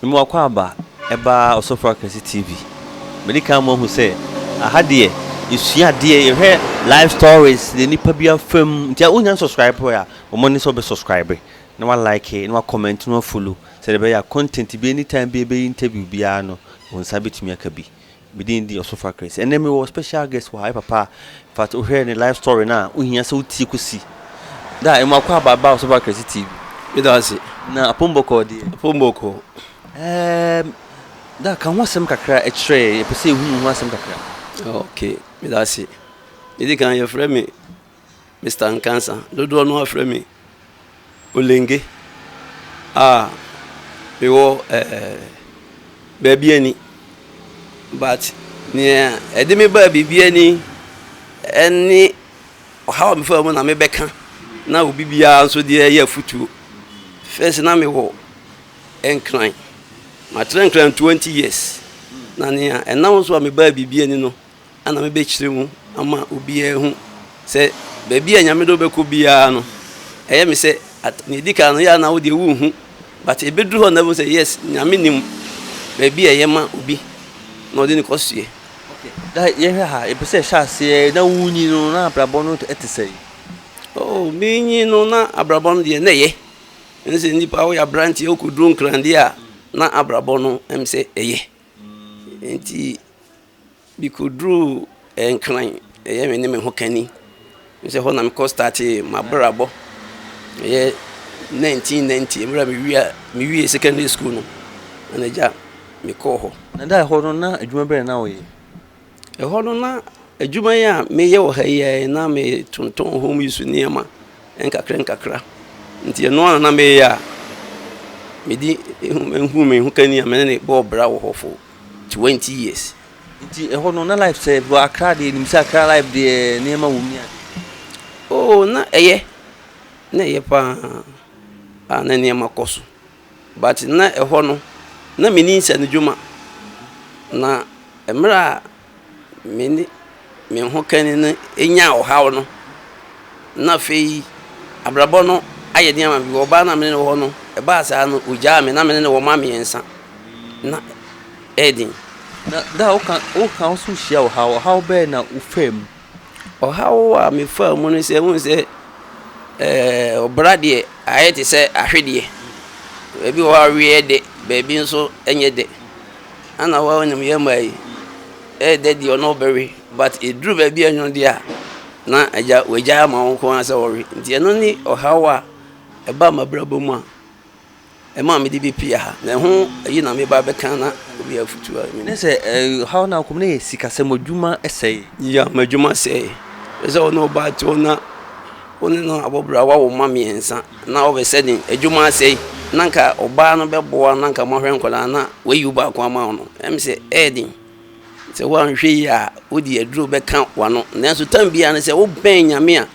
Mema Akwaaba ba Ɔsɔfo Akɛse TV. Madi kan ama wahu sɛ aha deɛ yɛsua adeɛ, yɛhwɛ life stories deɛ nnipa bi afa mu. Nti a wonnya nsubscribe ɛ a, bɔ mmɔden sɛ wobɛsubscribe na woalike na woacomment na woafollow sɛdeɛ ɛbɛyɛ a content bi anytime bi a yɛbɛyi interview biara no, wo nsa bɛtumi aka bi. Me din de Ɔsofa Chris. Ɛnnɛ me wɔ special guest wɔ ha, me papa. In fact, wo hwɛ ne life story no a, wo hia sɛ wo tie kɔsi da a ɛmu akɔ aba ba Ɔsofa Chris TV. Meda wo ase. Na Apom Bɔkɔɔ deɛ? Apom Bɔkɔɔ, ɛɛm, da ka ho asɛm kakra ɛkyerɛ yɛn, yɛpɛ sɛ yɛhunu ho asɛm kakra. Okay, meda ase. Ɛdi kan, yɛfrɛ me Mister Nkansah, dodoɔ no ara frɛ me Olenge a mewɔ ɛɛ baabi ani but nea ɛde me baa biribi ani ɛne ɔhaw a mefaa mu na mebɛka na obi biara nso deɛ ɛyɛ afutuo. First na mewɔ Nkran, matrɛ Nkran twenty years na nea ɛnam so a mebaa biribi ani no na mebɛkyerɛ mu ama obiara ahu sɛ baabi a Nyame de wobɛkɔ biara no, ɛyɛ me sɛ, at, nea ɛdi kan no, yɛ a na wo deɛ wonhu, but ɛbɛduru hɔ na ɛbɛhu sɛ, yes, Nyame nim baabi a ɛyɛ ma obi na ɔde no kɔ soɛ. Okay, na yɛhwɛ ha, ɛpɛ sɛ ɛhyɛ aseɛ, na wonyi no, na abrabɔ no te sɛn? Oh, menyi no, na abrabɔ no deɛ na ɛyɛ. Ɛne sɛ nnipa woyɛ aberanteɛ wokɔduru nkran deɛ a, na abrabɔ no ɛm sɛ ɛyɛ. Nti Mikoduruu Nkran, ɛyɛ me ne me ho kani ne sɛ hɔ na mekɔ startee m'abrabɔ, ɛyɛ 1990 mmerɛ a mewia mewiee secondary school no na n'agya mekɔɔ hɔ. Na da ɛhɔ no na adwuma bɛn na woyɛ? Ɛhɔ no na adwuma yi a meyɛ wɔ ha yi a na metontɔn home use nneɛma nkakra nkakra nti ɛno ara na meyɛ a mede mehu me ho kani a me ne no bɔɔ bra wɔ hɔ for twenty years. Nti ɛhɔ no na life sɛ bro akra deɛ nim sɛ akra life deɛ nneɛma wɔ mu ne ade. Oo oh, na ɛyɛ na ɛyɛ paa a na nneɛma kɔ so but na ɛhɔ no na menim sɛ no dwuma na mmerɛ a me ne me hokani no nyaa ɔhaw no, na afei abrabɔ no ayɛ den ama me. Mewɔ ɔbaa no a me ne no wɔ hɔ no, ɛbaa saa no, ogyaa me. Ná me ne no wɔ mma mmiɛnsa. Ná ɛyɛ den. Na da a woka woka wo nso hyia ɔhaw. Ɔhaw bɛn na wofaa mu? Ɔhaw a mefaa mu ne sɛ, wohu sɛ ɔbra deɛ ayɛ te sɛ ahwedeɛ. Baabi wɔ hɔ a awe yɛ dɛ, baabi nso ɛnyɛ dɛ. Ana hɔ a wonim yɛ mmaa yi, ɛyɛ dɛ deɛ ɔne ɔbɛwe but ɛduru baabi a ɛnwono deɛ a na agya wagyae ama wo nko ara sɛ wɔwe. Nti ɛno ne ɔhaw a ɛba m'abrabɔ mu a. Ɛmaa mede bi pii aha, na ɛho yi na meba abɛka na obi afotu a mini. Ne sɛ ɛhaw no akom no yɛ sikasɛm, adwuma sɛe. Ya m'adwuma sɛe. Ɛsɛ sɛ wo ne wo ba te hɔ na wo ne no abɔ bra, wawo mma mmiɛnsa na ɔbɛ sɛ den, adwuma asɛe, na anka ɔbaa no bɛboa na anka moahwɛ nkwadaa na wayi wo baako ama wo no, ɛm sɛ ɛyɛ den. Sɛ woanhwɛ yie a, wode aduro bɛka w'ano. Nanso tam biara ne sɛ wobɛn Nyame a,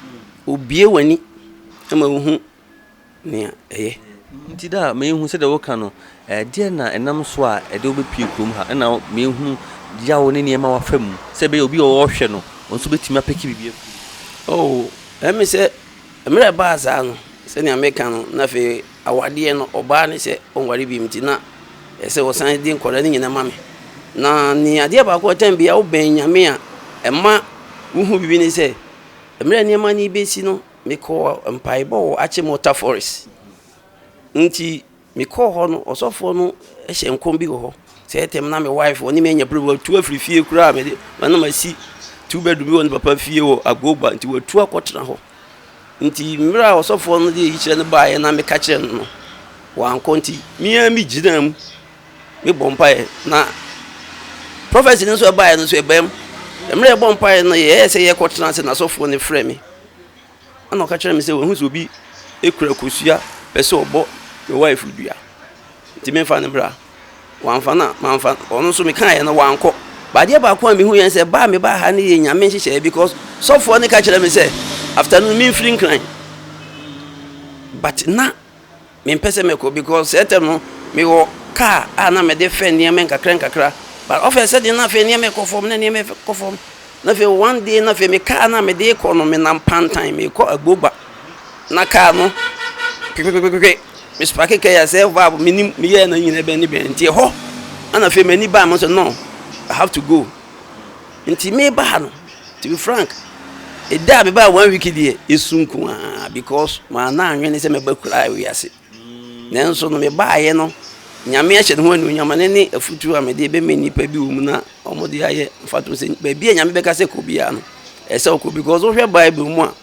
obue w'ani ma wohu nea ɛyɛ. Nti da a meehu sɛdeɛ woka no, ɛdeɛn na ɛnam so a ɛde wo bɛpue kurom ha? Ɛna meehunu yaw ne nneɛma a wafa mu, sɛ ɛbɛyɛ obi a ɔɔhwɛ no, ɔnso bɛtumi apeke biribi afiri mu. Oh, ɛme sɛ mmerɛ a ɛbaa saa no, sɛnea meka no, na afei awadeɛ no, ɔbaa no sɛ ɔnware bio nti na ɛyɛ sɛ ɔsan de nkwadaa no nyina ma me. Na nea adeɛ baako a time biara wobɛn Nyame a ɛma wohu biribi ne sɛ, mmerɛ a nneɛma no rebɛsi no, mekɔɔ mpaebɔ wɔ Akyem Water Forest. Nti mekɔɔ hɔ no, ɔsɔfoɔ no hyɛ nkɔm bi wɔ hɔ. Sɛ ɛtɛm na me wife ɔne me anya problem, watu afiri fie koraa mede na masi two bedroom bi wɔ ne papa fie wɔ Agoba nti watu akɔtena hɔ. Nti mmerɛ a ɔsɔfoɔ no de ayikyerɛ no baeɛ na meka kyerɛ no no, wankɔ nti me ara megyinaa mu Mebɔ mpaeɛ na prophecy no nso ɛbaeɛ no nso ɛbaa mu. Mmerɛ yɛbɔ mpaeɛ no yɛyɛ sɛ yɛkɔtena ase na asɔfoɔ no frɛ me. Ɛna ɔka kyerɛ me sɛ wahu sɛ obi kura kosua pɛ sɛ ɔbɔ me wife dua nti memfa no bra. Wamfa no a mamfa no. Ɔno nso mekaeɛ no wankɔ. But adeɛ baako a mehu yɛn sɛ baa mebaa ha no yɛ nyame nhyehyɛeɛ because sɔfoɔ no ka kyerɛ me sɛ afternoon memfiri nkran. But na Mempɛ sɛ mɛkɔ because saa tam no mewɔ car a na mede fɛ nneɛma nkakra nkakra but ɔfɛ sɛ deɛ na afei nneɛma ɛkɔ fam na nneɛma ɛkɔ fam na afei one day na afei me car na mede kɔ no menam pantan mekɔ agbogba na car no kpekpekpekpe me spake car yɛ sɛ valve menim meyɛɛ na nyina ɛbɛn ne bɛn nti ɛhɔ na afei m'ani baa mo sɛ no I have to go Nti me ba ha no to be frank ɛda a me baa one week deɛ ɛsu nko ara because maa na anwene sɛ mɛba kura a wiase nanso no me baayɛ no nyame ahyɛ ne ho anuonyam ne ne afutuo a mede bɛmɛ nnipa bi wɔ mu na wɔn de ayɛ mfato sɛ baabi a nyame bɛka sɛ kɔ biara no ɛsɛ ɔkɔ because wohwɛ bible mu a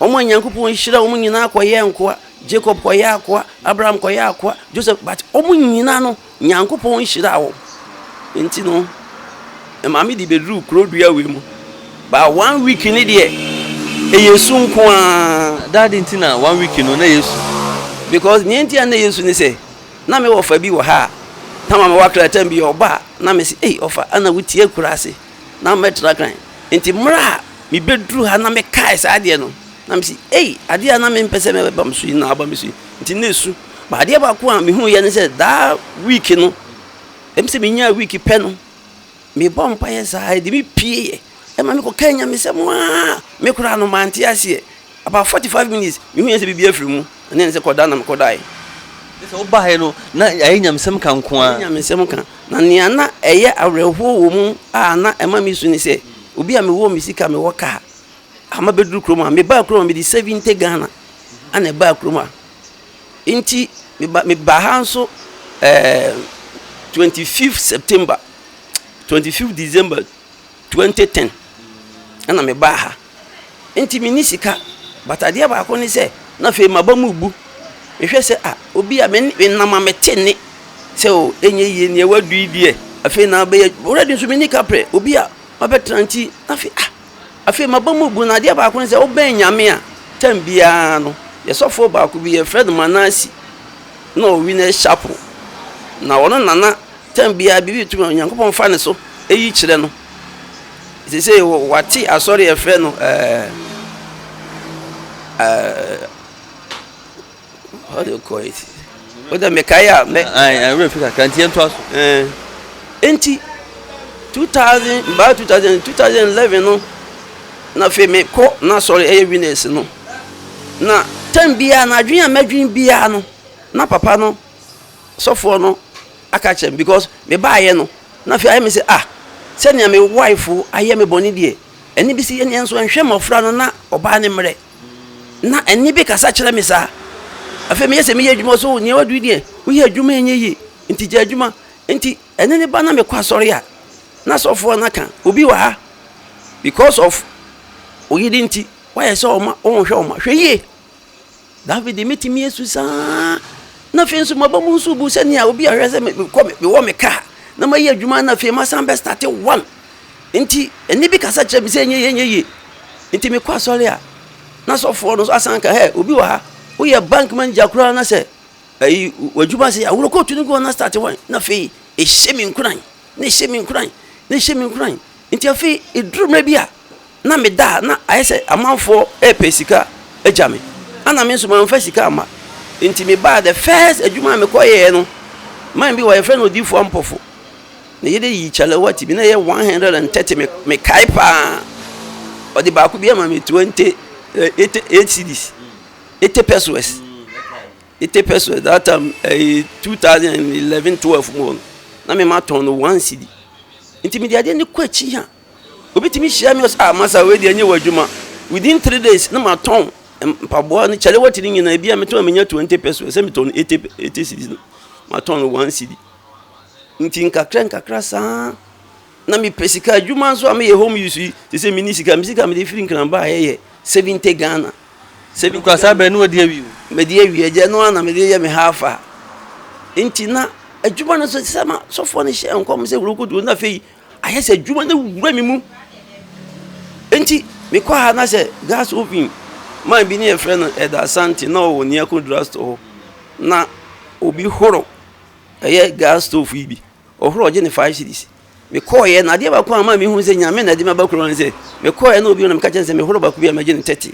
wɔn a nyankopɔn nhyira wɔn nyinaa kɔyɛ nkoa jacob kɔyɛ akoa abraham kɔyɛ akoa joseph but wɔn nyinaa no Nyankopɔn nhyira wo nti no maame de bɛduruu kuro dua wei mu baa one week ne deɛ ɛyɛ su nko ara daade nti na one week no na ɛyɛ su because neɛ nti a na ɛyɛ su ne sɛ na me wɔfa bi wɔ ha a na maame wakra tam bi ɔba a na me se ei ɔfa ana wotie akura ase na mɛtra kan. Enti mmerɛ a mebɛduruu ha na mekaee saa adeɛ no, na mese, Ei, adeɛ a na mempɛ sɛ ɛbɛba me so yi na aba me so yi, enti na ɛsu. But adeɛ baako a mehuuiɛ ne sɛ, daa week no, ɛm sɛ menyaa week pɛ no, mebɔɔ mpaeɛ saa, ɛde me pieeɛ, ɛma mekɔkaa Nyamesɛm ara, me koraa no mante aseɛ. About forty five minutes mehuiɛ sɛ biribi afiri mu na ne sɛ kɔda na me kɔdaeɛ. Kyerɛ sɛ wobaeɛ no na ayɛ nyamesɛm ka nko ara. Ayɛ nyamesɛm ka na nea na ɛyɛ awerɛhoɔ wɔ mu a na ɛma me su ne sɛ obi a mewɔ me sika mewɔ car a mabɛduru kurom a mebaa kurom a mede seventy Ghana na ɛbaa kurom a nti meba mebaa ha nso ɛɛ twenty fifth September twenty fifth December. Twenty ten ɛna me baa ha nti me ni sika but adeɛ baako ne sɛ na afei ma ba mu bu me hwɛ sɛ ah obi a me me nam a me te ne sɛ o enye yie neɛ wadu yi deɛ afei na abɛyɛ ɔrɛ di nso me ni ka pɛ obi a ma bɛ tena nti na afei ah afei ma ba mu bu na adeɛ baako ne sɛ ɔbɛn nyame a tɛm biara no yɛ sɔfoɔ baako bi yɛ fred manasi na ɔwi na ɛhyɛ apo na ɔno nana. Tam biara biribi retu ma Onyankopɔn fa ne so yi kyerɛ no. Sesei wate asɔre a ɛfrɛ no ɛɛ ɛɛ how do you call it? O de mekae a mɛ. Ɛwura fi kakra nti yɛnto aso. Ɛɛ nti two thousand baa two thousand two thousand eleven no na afei mekɔ n'asɔre ɛyɛ winners no na tam biara na adwene a mɛdwene biara no na papa no sɔfoɔ no aka akyerɛ me because me baeɛ no na afei ayɛ me sɛ ah sɛnea me wife ayɛ me bɔne deɛ ɛne bi si yɛ neɛ nso ɛnhwɛ mmɔfra no na ɔbaa ne mmerɛ na ɛne bi kasa kyerɛ me saa afei meyɛ sɛ meyɛ adwuma so neɛ wadui deɛ woyɛ adwuma ɛnyɛ yie nti gya adwuma nti ɛne ne ba na mekɔ asɔre a na sɔfoɔ no aka obi wɔ ha because of oyere nti wayɛ sɛ ɔma ɔnhwɛ ɔma hwɛ yie Dafid me tumi asu saa, na afei nso maba mu nso bu sɛnea obi ahwɛ sɛ mekɔ mewɔ me kaa na mayi adwuma na afei masan bɛ starte one nti ɛne bi kasa kyerɛ me sɛ ɛnyɛ yie ɛnyɛ yie nti mekɔ asɔre a na sɔfoɔ no nso asan ka hɛ obi wɔ ha woyɛ bank manager koraa na sɛ ayi w'adwuma se aworo kootu no koraa na starte one na afei ɛhyɛ me nkuran na ɛhyɛ me nkuran na ɛhyɛ me nkuran nti afei ɛduru mmerɛ bi a na meda a na ayɛ sɛ amanfoɔ repɛ sika agya me, ɛna me nso mamfa sika amma. Enti mebaa the first adwuma a mekɔyɛɛ no, man bi hɔ a yɛfrɛ no Odiyifoɔ Ampofo. Ne yere yii kyalewa ti bi, na ɛyɛ 130, me, mekae pa ara. Ɔde baako bi ama me 20, eh, 80, 8 cedis, 80 pesos. 80 pesos, that time, eh, 2011, 12 mu hɔ no, na mematɔn no 1 cedi. Enti mede adeɛ no kɔ akyi a, Obi tumi hyia me ɔsɛ ah masa wei deɛ ɛnyɛ wɔ adwuma within three days na ma tɔn mpaboa ne kyale wɔte ne nyinaa ebi a metɔn menya twenty pesos sɛ metɔn eighty eighty cedis no ma tɔn no one cedi nti nkakra nkakra saa na mepɛ sika adwuma nso a meyɛ home use yi te sɛ mini sika me sika mede firi nkranba a ɛyɛ seventy ghana seventy ghana saa bɛn no ɔde awie o mede awie agya no a na mede yɛ me ha afa nti na adwuma no so sɛ ma sɔfoɔ no hyɛ nkɔm sɛ wuro kodu na afei Ayɛ sɛ adwuma no awura me mu. Enti mekɔɔ ha na sɛ gas oven man bi ne yɛfrɛ no Ɛda Asante na ɔwɔ Niako drugstore hɔ na obi horo ɛyɛ gas stove yi bi. Ɔhoro ɔgye ne five cities. Mekɔɔeɛ na adeɛ baako a maa mehu sɛ nyame na ɛde me aba kuro no sɛ mekɔɔeɛ na obi na meka kyɛn sɛ mehoro baako bi a magye ne tɛte.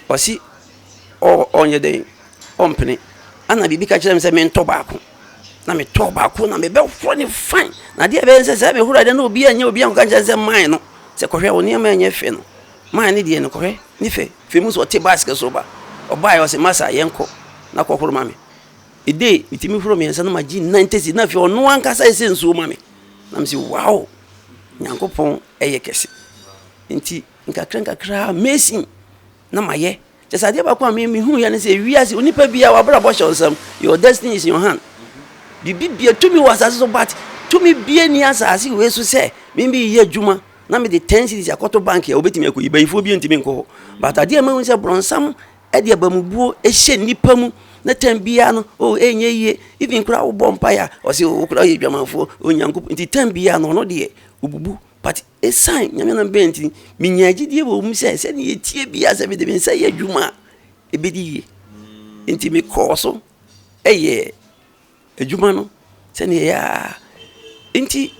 Ɔse ɔnyɛ dɛn ɔmpene. Ana biribi ka kyerɛ me sɛ mentɔ baako. na me tɔɔ baako na me bɛ horo ne fan na deɛ ɛbɛyɛ sɛ sɛ me horo adeɛ na obi anyɛ obi anka nkyɛn sɛ man no sɛ kɔhwɛ wɔn nneɛma anyɛ fɛ no man ne deɛ no kɔhwɛ ne fɛ fɛ mu sɛ ɔte basket so ba ɔbaa yɛ ɔsɛ masa yɛn kɔ na kɔ horo ma me ede me ti me horo mmiɛnsa na ma gyi nan tesi na afei ɔno ankasa ɛsɛ nsuo ma me na me si wow nyanko pɔn ɛyɛ kɛse nti nkakra nkakra mesin na ma yɛ. Kyerɛ sɛ adeɛ baako a me me hu yɛ ne sɛ wiase onipa biara wabrabɔ hyɛ nsɛm your destiny is in your hand biribi bia tumi wɔ asase so but tumi bie ni asase wei so sɛ me bi yɛ adwuma na me de ten series akɔto bank yɛ obetumi akɔ yi bayifoɔ bi ntumi nkɔ hɔ but adeɛ a mehu sɛ brɔnsam ɛde abamubuo ɛhyɛ nipa mu ne tɛn biara no o oh, ɛnyɛ yie even kura wobɔ mpaeɛ a ɔse wokura oh, yɛ dwamanfoɔ onyankopɔn nti tɛn biara no ɔno deɛ obubu pati Esiane Nyame no bɛ nti, minyaa gyidie wɔ mu sɛ sɛdeɛ ɛteɛ biara sɛ mede me nsa yɛ adwuma a, ɛbɛdi yie. Enti mekɔɔ so yɛɛ adwuma no sɛdeɛ ɛyɛ a enti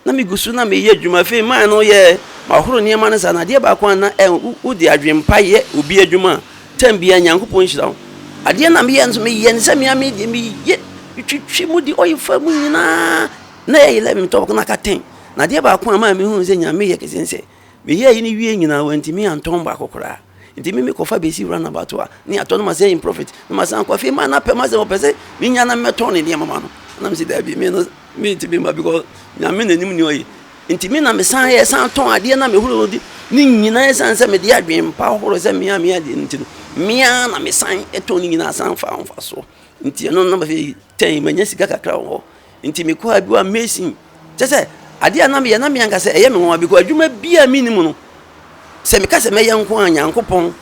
na megu so na meyɛ adwuma. Afei maa no yɛɛ mahoro nneɛma no saa no, adeɛ baako a na ɛ wode adwene pa yɛ obi adwuma a, tam biara Nyankopɔn nhyira wo. Adeɛ na meyɛ nso, meyɛ no sɛ me ara me deɛ meyɛ, metwitwi mu de oil fa mu nyinaa. Nna yɛyɛ Levim tɔbɔkɔ no akatɛn, na adeɛ baako a ɛmaa mehunuu sɛ Nyame yɛ kɛse ne sɛ, meyɛɛ yei no wieeɛ nyinaa wantumi antɔn baako koraa. Nti me mekɔfa bɛsi runabout hɔ a, na yɛatɔ no ma sɛ improfit, na masan akɔ. Afei maa n'apɛ ma sɛ ɔpɛ sɛ menya na mɛtɔn ne nneɛma ma no, na mese daabi, me no mentumi mma because Nyame na nim nea ɔyɛ. Nti me na mesan yɛɛ san tɔn adeɛ na mehoro no ne nyinaa ɛsiane sɛ mede adwene pa horoɔ sɛ me ara meyɛ adeɛ no nti no, me ara na mesan tɔn ne nyinaa san faa mfasoɔ. Nti ɛno na afei tɛn manya sika kakra wɔ hɔ. Nti me kɔɔ adwuma Mason. Kyerɛ sɛ, adeɛ a na meyɛ, na me ankasa ɛyɛ me nwanwa because adwuma bi a menni mu no, sɛ meka sɛ mɛyɛ nko a, Nyankopɔn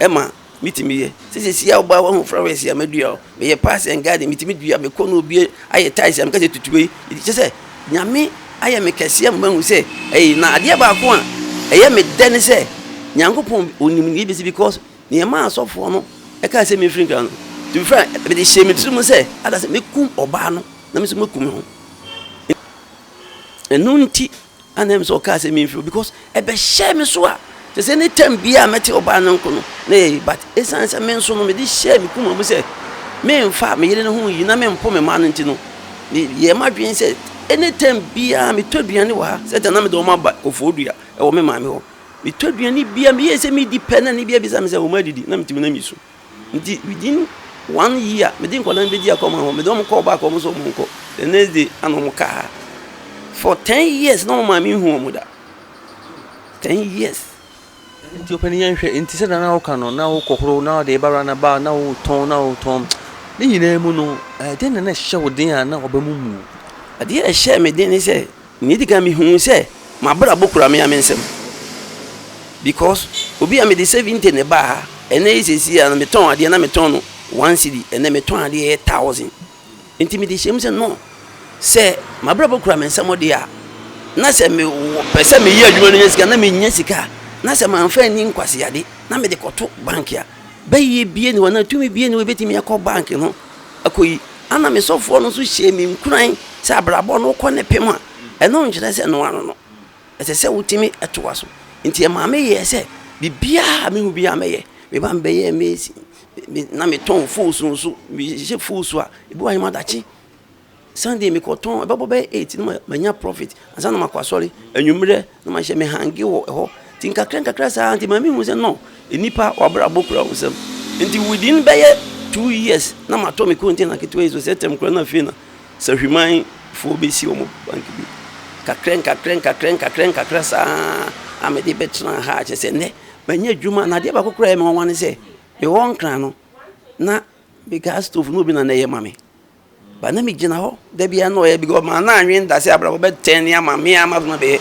ma metumi yɛ. Sɛ seesei a wobaa woahu flowers a madua hɔ, meyɛ pass and garden, metumi dua, mekɔ na obi ayɛ tiles a meka sɛ tutu wei. Nti kyerɛ sɛ, Nyame ayɛ me kɛseɛ ama mahu sɛ ɛyɛ. Na adeɛ baako a ɛyɛ me dɛ ne sɛ, Nyankopɔn, Ɔnim deɛ ɛbɛsi because Nea ɛmaa asɔfoɔ no kae sɛ memfiri nkra no, to be frank, mede hyɛɛ me tirim sɛ ada sɛ mɛkum ɔbaa no na me nso maku me ho. Ɛno nti a na ɛm sɛ ɔkaa sɛ memfiri hɔ because ɛbɛhyɛɛ me so a kyerɛ sɛ ne tam biara a mɛte ɔbaa no nko no na ɛyɛ yi but ɛsiane sɛ me nso no mede hyɛɛ me koma mu sɛ memfa me yere no ho yi na mempo me mma no nti no yɛ m'adwene sɛ ɛne tam biara metɔ aduane wɔ ha sɛ tɛ na mede wɔn aba kɔfoɔ dua ɛwɔ me maame hɔ Metɔ aduane bi a meyɛɛ sɛ medi pɛ na ne bi abisa me sɛ wɔn adidi na metumi na mi so nti within one year mede nkwadaa no bɛdi akɔma hɔ mede wɔn kɔɔ back wɔn nso wɔn nkɔ the next day ana wɔn kaa ha for ten years na wɔn maame nhu wɔn da ten years. nti ɔpɛni yɛn hwɛ nti sɛ nana ɔka no na ɔkɔ horo na ɔde ɛba rana ba na ɔtɔn na ɔtɔn ne nyinaa mu no ɛdeɛ na na ɛhyɛ wo den a na ɔbɛ mu mu. adeɛ ɛhyɛ me den ne sɛ Nea edi kan, mihuu sɛ m'abrabɔ kura me ara me nsam because obi a mede seventy na ɛbaa ha, ɛnnɛ yi seesei a metɔn adeɛ na metɔn no one cedi, ɛnnɛ metɔn adeɛ ɛyɛ thousand. Enti mede hyɛɛ mu sɛ no, sɛ m'abrabɔ kura me nsam deɛ a, na sɛ mepɛ sɛ meyɛ adwuma na menya sika a, na menya sika a, na sɛ mamfa anni nkwaseade na mede kɔto bank a, bɛyɛ biara nni hɔ anaa tumi biara nni hɔ a ebetumi akɔ bank no kɔ yi, ana me sɔfoɔ no nso hyɛɛ me nkuran sɛ abrabɔ no wokɔ ne pem a, ɛno nkyerɛ sɛ noa no no. Ɛsɛ sɛ wotumi toa so. Nti ɛmaa me yɛɛ sɛ biribiara a mehu biara mɛyɛ. Me ba no bɛyɛɛ maize, na metɔn fuusu nso, mehyehyɛ fuusu a, ebi wɔ ha yɛma daakye. Sunday mekɔ tɔn, ɛbɛbɔ bɛyɛ eight na manya profit ansa na makɔ asɔre, anwummerɛ na mahyɛ me hange wɔ ɛhɔ, nti nkakra nkakra saa nti ma mehu sɛ no, nnipa wabrabɔ kura wo nsam, nti within bɛyɛ two years na matɔ me container ketewa yi so, sɛ tɛm kura na afei na Sahwiman foɔ bɛsi wɔn bank bi, nkakra nkakra nkakra nkakra nkakra saa a mede bɛtena ha kyɛ sɛ nnɛ manya adwuma, na adeɛ baako kura yɛ me nwanwa ne sɛ mewɔ nkran no na me gas stove no obi na na ɛyɛ ma me. But na migyina hɔ da biara na ɔyɛ because maa na anwen da sɛ abrabɔ bɛtɛn ne ama me a ma adwuma bɛyɛ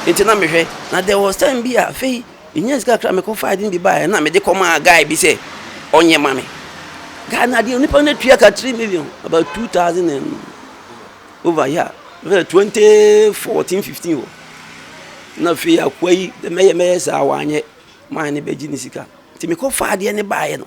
nti na mehwɛ na there was time bi a afei menya sika kakra mekɔ fa ade bi baeɛ na mede kɔmaa guy bi sɛ ɔnyɛ ma me guy no adeɛ nipa no atua ka three million about two thousand and over yeah twenty fourteen fifteen hɔ na afei akoa yi mɛyɛ mɛyɛ saa wanyɛ maa ne bɛgye ne sika nti mekɔ fa adeɛ ne baeɛ no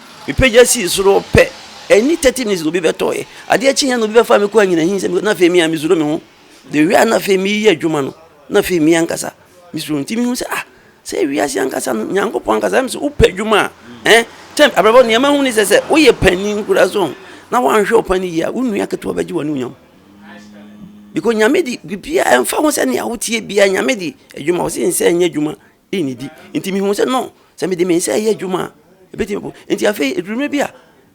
Mepagya sii soro pɛ, ɛnni thirty minutes na obi bɛtɔeɛ. Adeɛ kyeeɛ na obi bɛfaa me kɔɔ anyinahene nsam hɔ, na afei me ara mesuro me ho. The way a na afei mereyɛ adwuma no, na afei me ankasa mesuro. Nti mehu sɛ ah, sɛ wiase ankasa no, Nyankopɔn ankasa, ɛm sɛ wopɛ adwuma a, ɛn, kyɛn, abrabɔ nea mahu ne sɛ sɛ woyɛ panin koraa so ɔn, na woanhwɛ wo panin yie a, wo nua ketewa bɛgye w'anuonyam. Because Nyame de biribiara ɛmfa ho sɛnea woteɛ biara, Nyame de adwuma, ɔse nsɛ nyɛ adwuma Nnidi. Enti mihuu sɛ, no, sɛ mede me nsa reyɛ adwuma a, ebetumi aboa. Enti afei, eduru mmere bi a,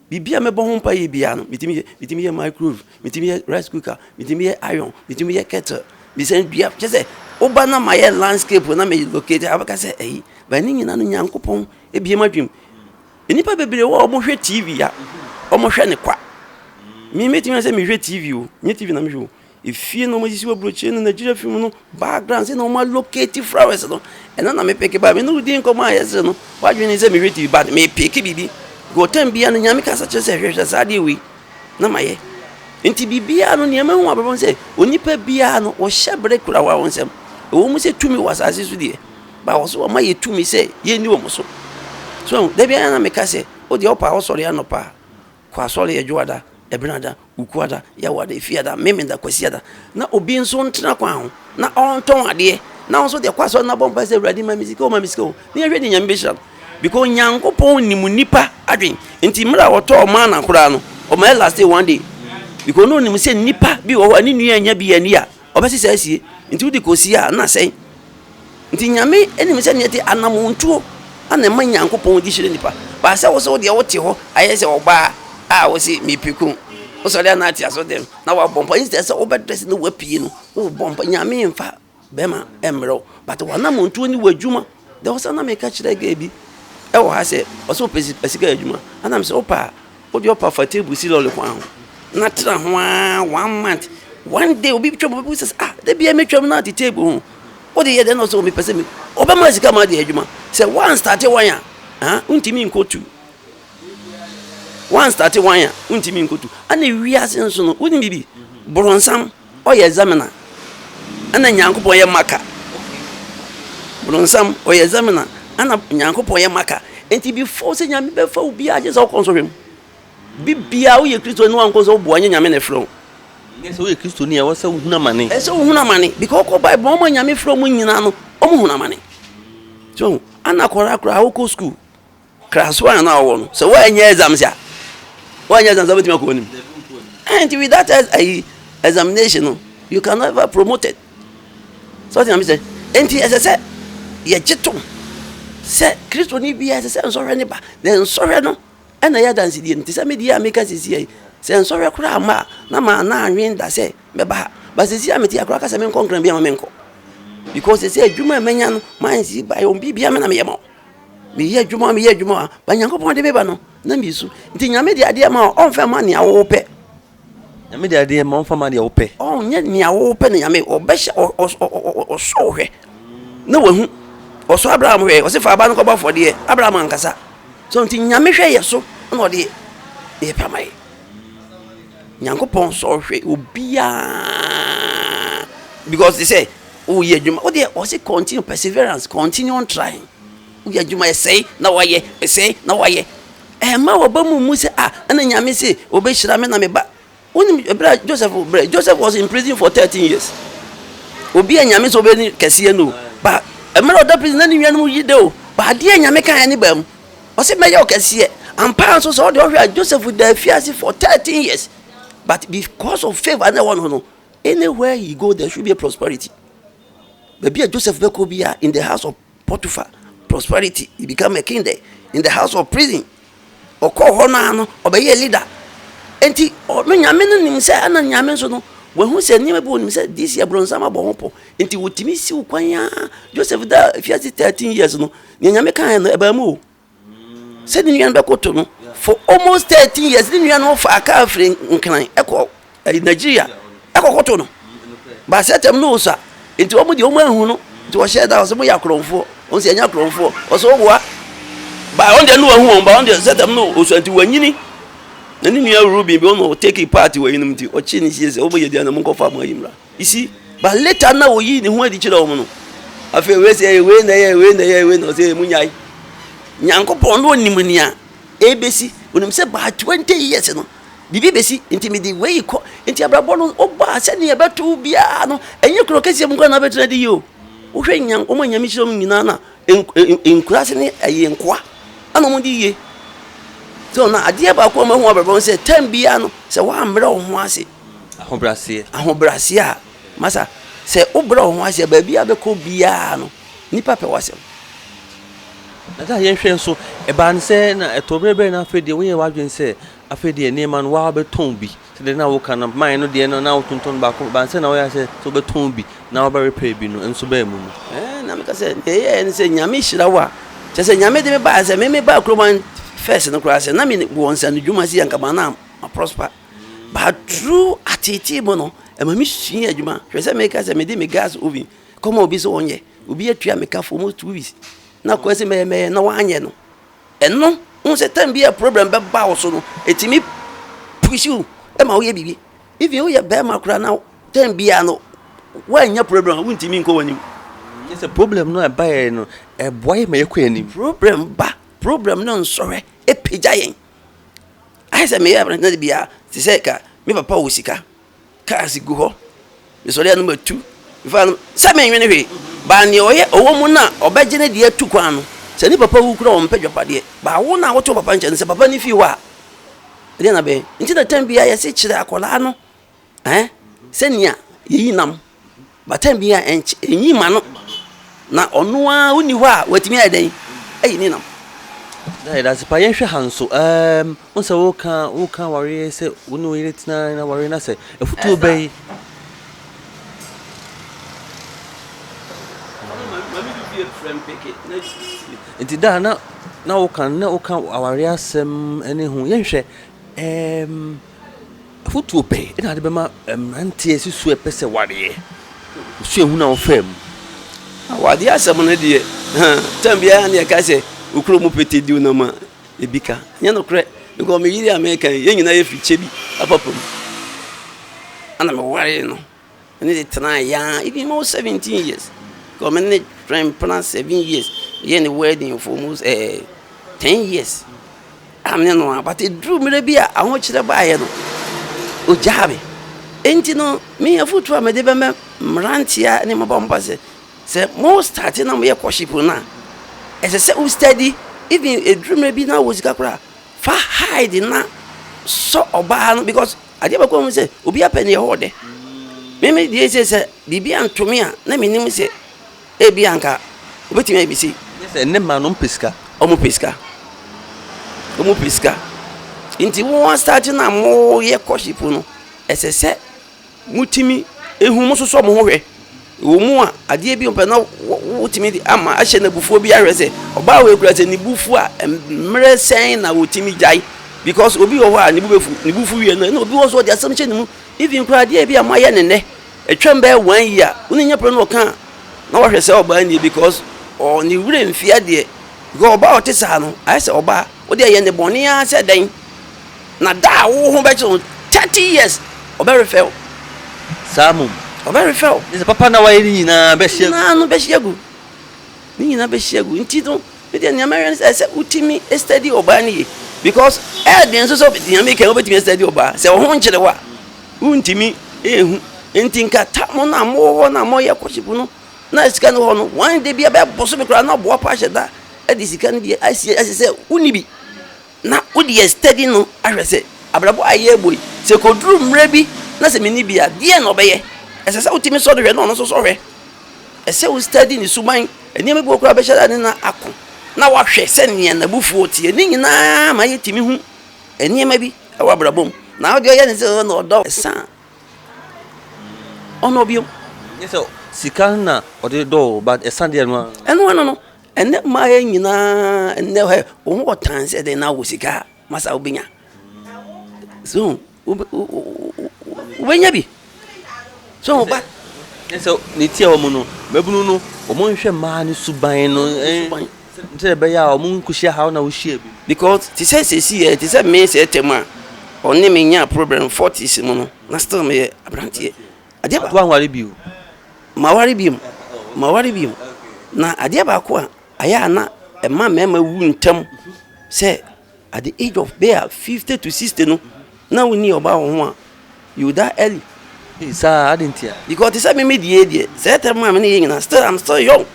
biribi a mɛbɔ ho mpae biara no, metumi yɛ. Metumi yɛ microwave, metumi yɛ rice cooker, metumi yɛ iron, metumi yɛ kettle, mesan dua. Kyerɛ sɛ, woba na mayɛ landscape na me locate a, wobɛka sɛ ayi. But ne nyinaa no, Nyankopɔn abue m'adwenem. Nnipa bebree wɔ hɔ a, wɔhwɛ TV a, wɔhwɛ no kwa. Me, metumi ayɛ sɛ mehwɛ TV o, ɛnyɛ TV na mehwɛ o, Efie na wɔasisi wɔ aburokyire ne Nigeria film no background sɛ na wɔn allocate flowers no ɛna na mepeke ba me ne wodi nkɔmɔ a yɛsere no wadwene sɛ mehwɛ TV but mepeke biribi gɔtɛm bia no nyame kasa kyerɛ sɛ hwɛhwɛ saa adeɛ wei na mayɛ nti biribiara no nneɛma ho abrabɔ sɛ onipa biara no wɔhyɛ bere kura wɔn nsɛm ɛwɔ mu sɛ tumi wɔ asase so deɛ ba wɔ so wɔma yɛ tumi sɛ yɛnni wɔn so so dabi ayɛ na meka sɛ o deɛ ɔpa ɔsɔre anɔpa a Kɔ asɔre Adwoada, Ɛbenada, Wukuada, Yawada, Efiada, Memenda, Kwasiada, na obi nso ntena kwan ho na ɔntɔn adeɛ na wo nso deɛ kɔ asɔre na bɔ mpae sɛ Awurade ma me sika o ma me sika o na yɛhwɛ deɛ Nyame bɛhyira no because Nyankopɔn nim nipa adwen nti mmerɛ a ɔtɔɔ mana koraa no ɔma ɛlastee one day because na ɔnim sɛ nipa bi wɔ hɔ a ne nua anya bi anni a ɔbɛse saa sie, nti wode kɔsie a na asɛe. Nti Nyame nim sɛ neɛ ɛte, anamontuo na ɛma Nyankopɔn de hyira nipa. But sɛ wose wodeɛ wote hɔ ayɛ sɛ ɔbaa a wose mepiku, wosɔre a na ate aso dɛm, na wabɔ mpaeɛ, instead sɛ wobɛ dress na wapue no, wobɔ mpaeɛ, Nyame mfa bɛrima mmerɛ wo, but w'anamontuo ne w'adwuma. There was a na meka kyerɛ girl bi ɛwɔ ha sɛ ɔsɛ ɔpɛ sika adwuma ana mesɛ wopɛ a wode ɔpa fa table si lɔle kwan ho na tra ho aa one month one day obi twam obi sɛ ah da bia metwam na ate table ho wode yɛ dɛ na ɔsɛ ɔmepɛ sɛ me ɔbɛma sika ma ade adwuma sɛ one start one a ah wontumi nkɔtu one start one a wontumi nkɔtu ana wiase nso no wonim bibi borɔnsam Ɔyɛ Zamina ɛna Nyankopɔn yɛ Maka. Bronsam ɔyɛ Zamina ɛna Nyankopɔn yɛ Maka. Enti before sɛ Nyame bɛfa wo biaa gyesɛ wokɔ nsɔhwɛ mu. Bibia woyɛ Kristo ni a wonkɔ nsɔhwɛ mu boa nyɛ Nyame na ɛfrɛ wo. Nyɛ sɛ woyɛ Kristo ni a ɛwɔ sɛ wo hunu amane. Ɛsɛ sɛ wo hunu amane because wokɔ Bible mu wɔn a Nyame frɛ wɔn nyinaa no wɔn hunu amane. So wohu? Ana kɔraa koraa wokɔ school. Kra so a na ɔwɔ no sɛ wɔanyɛ exams a wɔanyɛ exams a wobɛtumi akɔ anim and without ayi examination no you can never promoted sɛ ɔte nyame sɛ enti ɛsɛ sɛ yɛgye tom sɛ kristoni biara ɛsɛ sɛ nsɔhwɛ ne ba na nsɔhwɛ no ɛna yɛ adansedie no te sɛ medeɛ a meka sisi yi sɛ nsɔhwɛ koraa ma a na maa na anwen da sɛ mɛba ha ba sisi a mete akora ka sɛ menkɔ nkran bi ama menkɔ because ɛsɛ adwuma a manya no mansi ba yɛ ɔn biribia me na meyɛ ma wo Meyɛ adwuma o, meyɛ adwuma o, but Nyankopɔn de me ba no, na mesu. Nti Nyame de adeɛ ma o, ɔnfa ma nea wo pɛ. Nyame de adeɛ ma o, ɔnfa ma deɛ wo pɛ. Ɔnyɛ nea wo pɛ na Nyame, ɔbɛhyɛ, ɔ, ɔ, ɔ, ɔ, ɔ, ɔsɔ wo hwɛ, na wahu. Ɔsɔ Abraham hwɛɛ, ɔse fa aba no kɔbɔ afɔdeɛ, Abraham ankasa. So, nti Nyame hwɛ yɛ so, na ɔde yɛ pɛ ama yɛ. Nyankopɔn sɔ hwɛ obiaa, because te sɛ, Woyɛ adwuma, wo deɛ ɔse continue, perseverance, continue on trying. Woyɛ adwuma, ɛsɛe na wayɛ, ɛsɛe na wayɛ. Ɛmma w'aba mu mmu sɛ, ah, ɛna Nyame se ɔbɛhyira me na me ba. Wonim ɛberɛ a Joseph brɛ, Joseph was in prison for 13 years. Obi a Nyame sɛ ɔbɛni kɛseɛ no, ba mmerɛ ɔda prison na ne nuanom yi dɛ o, ba adeɛ Nyame kaeɛ ne baa mu. Ɔse mɛyɛ ɔkɛseɛ. Ampaa nso sɛ ɔde ɔhwɛ a Joseph da afiase for 13 years. But because of favor na ɛwɔ no no, Anywhere he go there should be a prosperity. Baabi a Joseph bɛkɔ biara, in the house of Potiphar, prosperity. He became a king there. In the house of prison, ɔkɔɔ hɔ no a no, ɔbɛyɛɛ leader. Enti, ɔ- no nyame no nim sɛ, ɛna nyame nso no, wahu sɛ nneɛma bi wɔ nim sɛ this yɛ bronsam abɔ ho pɔ. Enti, wotumi siw kwan a Joseph da afiase 13 years no, nea nyame kaeɛ no, ɛbaa mu o. sɛ ne nua no bɛkoto no for almost thirteen years ne nua no fa kaa firi nkran ɛkɔ ɛyi eh, nigeria ɛkɔkoto no baasɛ tɛm no osa nti wɔn deɛ wɔn ahu no nti wɔhyɛ da wɔsɛ mo yɛ akorɔmfoɔ wɔn sɛ ɛnyɛ akorɔmfoɔ wɔsɛ ɔboa baa wɔn deɛ no wɔn ahu wɔn baa wɔn deɛ sɛ tɛm no osa nti wɔn anyini na ne nua rubi bi wɔn na ɔteki paati wɔ yinom nti ɔkye ne sie sɛ wɔn yɛ deɛ na mo nkɔfa mo ayimra. You see, but later na oyi ne ho adi kyerɛ wɔn no. Afei wei sɛ ɛyɛ wei na ɛyɛ wei na ɛyɛ wei na ɔsɛ emu nyae. Nyankopɔn no onim nea ebesi. Onim sɛ by twenty years no biribi besi nti me de wei kɔ. Nti abrabɔ no ɔbaa sɛnea ɛbɛto biara no ɛnyɛ kuro kɛseɛ mu koraa na abɛtena de yi o. Wohwɛ nya wɔn a nyame hyira wɔn nyinaa na nkuraase ne ɛyɛ nkoa ɛna wɔn de yie. So na adeɛ baako a wɔn ahu abrabɔ no sɛ tɛm biara no sɛ wɔammrɛ wɔn ho ase. Ahobrɛaseɛ, ahobrɛaseɛ a, masa, sɛ wobrɛ wo ho ase a, baabi a wobɛkɔ biara no, nnipa pɛ w'asɛm. Na sɛ yɛnhwɛ nso, ɛbaa no sɛ na ɛtɔ berɛ berɛ na afei deɛ woyɛ w'adwene sɛ afei deɛ nneɛma no waa wobɛtɔn bi sɛdeɛ na woka no mae no deɛ no na wotontɔn baako ɛbaa no sɛ na woyɛ sɛ sɛ wobɛtɔn bi na wobɛrepair bi no nso baa mu mu. Ɛɛ na meka sɛ deɛ ɛyɛɛ no sɛ Nyame hyira wo a kyɛ sɛ Nyame de me baa sɛ me me baa kurom first no koraa sɛ na me wɔ nsanodwuma sɛ anka ma na ma prosper. But through ateetee mu no, ɛma me sua adwuma. Hwɛ sɛ meka sɛ mede me gas oven kɔma obi sɛ ɔnyɛ. Obi atua me ka for almost two weeks. Na kɔɛ sɛ mɛyɛ mɛyɛ na wanyɛ no. Ɛno, wohu sɛ time bi a problem bɛba wo so no, ɛtumi push wo ma woyɛ biribi. Even woyɛ bɛrima koraa na time biara no, woannya problem a, wontumi nkɔ w'anim. Kyerɛ sɛ problem no a ɛbaeɛ no, ɛboa yɛn ma yɛkɔ yɛn anim. Problem ba, problem no nsɔre, ɛpagya yɛn. Ayɛ sɛ meyɛ aberante na da biara te sɛ ka me papa wɔ sika, cars gu hɔ, mesɔre a no matu, mefa a no sɛ menwene hwee. Baa nea ɔyɛ ɔwɔ mu no a ɔbɛgye ne deɛ atu kwan no. Sɛ ne papa wu koraa a ɔmpɛ dwapadeɛ. Baa wo no a wote wo papa nkyɛn no sɛ papa no fii hɔ a ɛdeɛn na bɛyɛ? Nti na tɛm biara yɛse kyerɛ akwadaa no Ɛ sɛ nea yeyi nam bata bi a ɛnky enyi ma no, na ɔno ara onni hɔ a watumi ayɛ dɛn ayi ne nam. Da yɛda ase paa. Yɛnhwɛ ha nso. Ɛɛm, wo sɛ woka woka awareɛ sɛ wo ne wo yere tena na awareɛ na sɛ afutuo bɛn. Nti da na na woka na woka awareɛ asɛm ne ho. Yɛnhwɛ ɛɛm. Afotuo bɛn na wode bɛma mmeranteɛ si so ɛpɛ sɛ wareɛ? Osuahunu a wofaa mu. Awadeɛ asɛm no deɛ, time biara na yɛka sɛ okuro mu pete di nam a, ebi ka. Ɛnyɛ nokorɛ. Mekɔ me yere a meka yi, yɛn nyinaa yɛfiri Kyebi, Apapo mu. Ɛna mewaree no. Me ne no tenae yaa even almost seventeen years. Because me ne no twɛn mpena seven years. Yɛyɛɛ no wedding for almost eh, ten years. A me ne no a but ɛduru mmerɛ bi a ahokyerɛ baeɛ no, ɔgyaa me. Enti no, me afotuo a mede bɛma mmeranteɛ ne mmabaawa mpa sɛ, sɛ mostarte na moyɛ courtship no a, ɛsɛ sɛ wo study even ɛduru mmerɛ bi na wowɔ sika koraa a, fa hide na sɔ ɔbaa no because Adeɛ baako a mehu sɛ obiara pɛ no Yehowa dɛ. Me me deɛ sɛ sɛ biribi anto me a na menim sɛ ebi anka obetumi ayɛ bi sei. Gye sɛ ne mma no mpɛ sika. Wɔpɛ sika. Wɔpɛ sika. Nti wo asate no a moyɛ kɔhyefo no, ɛsɛ sɛ motumi ehu mososɔ mo ho hwɛ Ɛwɔ mu a, adeɛ bi ɔpɛ na wotumi de ama ahyɛ no abufuo bi ahwɛ sɛ ɔbaa wei kura sɛ ne bu fu a mmerɛ sɛn na ɔtumi gyae because obi wɔ hɔ a ne bu bɛfu ne bu fu wie no ɛna obi wɔ so ɔde asɛm hyɛ ne mu even kura adeɛ bi a moayɛ ne nnɛ ɛtwam bɛyɛ one year wo ne nyɛ pere no ɔka na wahwɛ sɛ ɔbaa nie because ɔ ne werɛ mfie adeɛ because ɔbaa ɔte saa no ayɛ sɛ ɔbaa Wo deɛ yɛ ne bɔne ara sɛ dɛn na da a wo ho bɛkyere wo thirty years ɔbɛ refɛ wo. Saa mmom. Ɔbɛ refɛ wo. Ɛsɛ papa na wayɛ ne nyinaa bɛ hye agu. Nyinaa no bɛ hye agu. Ne nyinaa bɛ hye agu nti no me deɛ nea mɛwɛ ne sɛ ɛsɛ wo timi study ɔbaa no yie because ɛyɛ den nso sɛ nea meka yi wo bɛtumi astudy ɔbaa sɛ wo ho nkyere wo a wo ntimi ɛhu nti nka ta mo no a mo wɔ hɔ no a mo yɛ courtship no na sika no hɔ no wɔn de bi bɛyɛ bosome koraa na ɔboa pa ahyɛ da de sika no bi asi ɛsɛ sɛ wonni bi na wode yɛ steady no ahwɛ sɛ abrabɔ a ɛyɛ ɛbɔ yi sɛ kɔduru mmerɛ bi na sɛ menni bi a deɛ na ɔbɛyɛ ɛsɛ sɛ wotumi sɔ no hwɛ na ɔno nso sɔ hwɛ ɛsɛ wo steady ne suban nneɛma bi wɔ koraa bɛhyɛ da ne na ako na wahwɛ sɛ nea n'abufuo teɛ ne nyinaa ma yɛtumi hu nneɛma bi wɔ abrabɔ mu na wode ɔyɛ ne sɛ ɔdɔ ɛsa Ɔno ɔbio. Nye sɛ sika na ɔde dɔ o but ɛsa deɛ no a. Ɛno ano no ɛnɛ mmaa yɛ nyinaa ɛnɛ hɛ wɔn wɔ tan sɛ dɛ na wɔ sika a masa wobɛnya so wobɛnya bi so ba. Sɛ ne tia wɔn no mɛbunu no wɔn nhwɛ mmaa ne suban no. Sɛ de bɛyɛ a ɔmo nkohyia haw na wohyia bi. Because te sɛ sɛsi yɛ te sɛ me sɛ tɛm a ɔne me nyaa problem forties mu no na still me yɛ abranteɛ adeɛ baako. Wanware bio? Ma ware biom ma ware biom na adeɛ baako a ayɛ a na ɛma mɛɛma wu ntɛm sɛ At the age of bɛyɛ fifty to sixty no na wo ni ɔbaa wɔ ho a you die early. Eii saa adɛn ntia? Because te sɛ me me die deɛ sɛɛ term a me ne yɛ nyinaa still I'm still young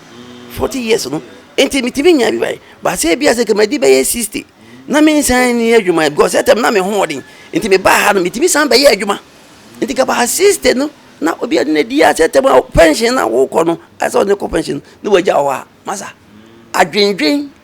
forty years no nti me tumi nya bi bae but sɛ ebia sɛ kama di bɛyɛ sixty na me nsan nni adwuma ɛ because sɛɛ term na me ho ɔden nti me baa ha no me tumi san bɛ yɛ adwuma nti ka baa sixty no na obi adi na di a sɛɛ term a pension na wo kɔ no asɛ ɔne kɔ pension na wagya wɔ hɔ a masa adwendwen.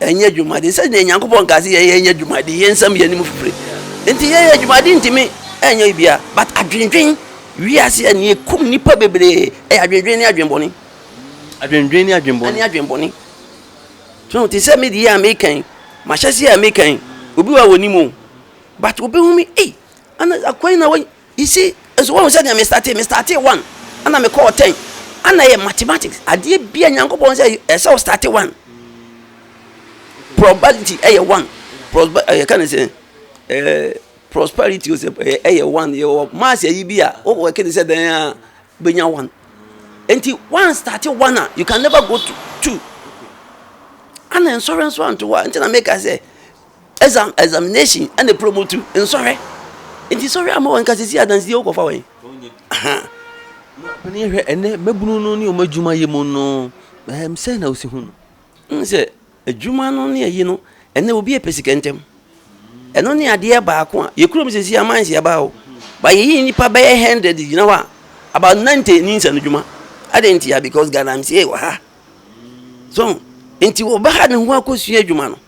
Ɛnyɛ dwumadi. Sɛnea Nyankopɔn kaa sɛ yɛyɛ nyɛ dwumadi, yɛn nsam yɛ anim fifire. Enti yɛyɛ dwumadi ntumi ɛnyɛ bibia. But adwendwen, wiase a nea ɛkum nnipa bebree ɛyɛ adwendwen ne adwenbɔne. Adwendwen ne adwenbɔne. Ɛne adwenbɔne. So te sɛ me deɛ a mekan, mahyɛseɛ a mekan, obi wɔ a wɔnim o. But wobɛhu me, ei, ana akwan na wɔyi, You see, nso wɔn sɛ nea me startee, me startee one, ɛna me kɔɔ ten, ɛna yɛ mathematics, adeɛ bia nyankopɔn sɛ ɛsɛ o startee one, probability ɛyɛ one, prosper ɛyɛ kan sɛ ɛɛ prosperity sɛ ɛyɛ one, yɛ wɔ mass ɛyi bi a o wɔ kɛne sɛ dɛn a benya one, nti one startee one a you can never go to two, ɛna nsɔre nso anto hɔ a nti na meka sɛ Exam, examination, ɛna promote nsɔhwɛ. Nti sɔhwɛ ama wɔn nka sisi adansi yɛ wokɔfa wɔn. Panyin hwɛ ɛnɛ mɛbunu no ne wɔn adwuma yɛ mu no ɛm sɛ na osi ho no. N sɛ adwuma no ne ayi no ɛnɛ obi yɛ pɛ sika ntɛm. Ɛno ne adeɛ baako a yɛ kurom sisi aman si ɛbaa o. Ba yɛyi nipa bɛyɛ hundred gyina hɔ a about ninety ni nsɛn adwuma. Adɛn nti ya because Ghana msie wɔ ha. So nti wɔbɛha ne ho akɔsua adwuma no.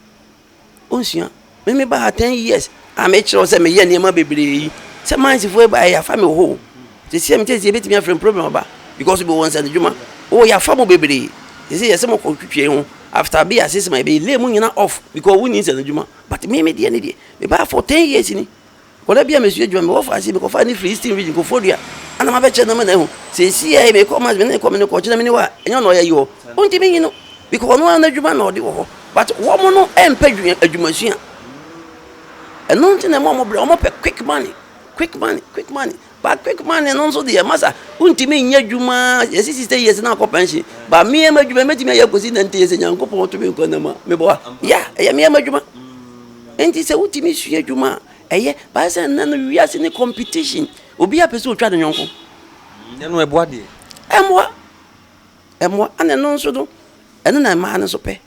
Onsua. Me me ba ha ten years a me kyerɛ wo sɛ meyɛ nneɛma bebree yi. Sɛ mines foɔ ba yɛ afa me hɔ o. Sisi a me tete ebetumi afrɛ me problem aba because bi wɔ nsa ne dwuma. O yɛ afa mo bebree. Sisi yɛ sɛ mo kɔ twitwi ho after bi a six months yɛ bɛ lay mo nyina off because wo ni nsa ne dwuma but me me deɛ ne deɛ me ba ha for ten years ni. Wɔ da bi a mesua adwuma, mekɔ faa ase, mekɔfaa ne firi Eastern Region, Koforidua, a na mabɛkyerɛ no ama no ahu. Seesei ara yi, mekɔ Mass, me ne no kɔ, me ne no kɔ, ɔkyena mene hɔ a, ɛnyɛ ɔno na ɔyɛ ayi hɔ. Ɔnti menyi no, because ɔno ara n'adwuma na ɔde wɔ hɔ, but wɔn no mpɛ adwumasua, ɛno nti na ɛma wɔn brɛ, wɔpɛ quick money, quick money, quick money. But quick money no nso deɛ masa wontumi nyɛ adwuma yɛsi sixty years na akɔ pension ba mmea ma adwuma mɛtumi ayɛ akosi nante yɛ sɛ nyankopɔn to me nkwa nam a meboa ya ɛyɛ mmea ma adwuma nti sɛ wotumi sua adwuma a ɛyɛ baayɛ sɛ nnɛ no wiase ne competition obi apɛ sɛ otwa ne nyɔnko ɛno ɛboa deɛ ɛmmoa ɛmmoa ana ɛno nso no ɛno na mmaa no nso pɛ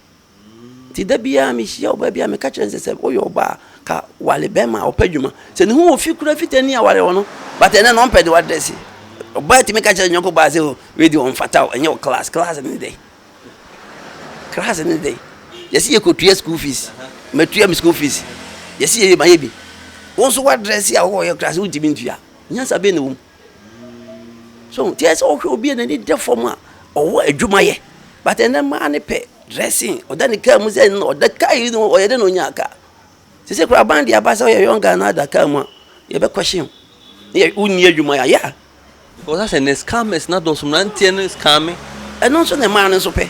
Nti da biara mehyia ɔbaa bi a meka kyerɛ no sɛ sɛ woyɛ ɔbaa a ka wale bɛrima a ɔpɛ adwuma sɛ ne ho wɔ fi kura fita ni aware wɔ no but ɛnɛ na ɔmpɛ de wadrɛse ɔbaa tumi ka kyerɛ nyɔnko baa sɛ o oh, wei deɛ ɔmfata o ɛnyɛ wɔ class class ne dɛ class ne dɛ yɛsi yɛkɔtua school fees matua me school fees yɛsi yɛyɛ mayɛ bi wo nso wadrɛse a wowɔ yɛ class wontumi ntua nyansa bɛn na wɔ mu So hu? Nti ɛyɛ sɛ wohwɛ obi a n'ani da fam a, ɔwɔ adwuma yɛ. But ɛnɛ mmaa no pɛ dressing, ɔda ne kaa mu sɛ ɛno na ɔda kaa yi no ɔyɛ dɛ na ɔnyaa kaa. Sese koraa aban de aba sɛ woyɛ young guy na ada kaa mu a, yɛbɛ question wo. Ne yɛ wonni adwuma yɛ a, yeah. Because asɛ nnɛ scammers no adɔɔso, mmeranteɛ no scamme. Ɛno nso na mmaa no nso pɛ.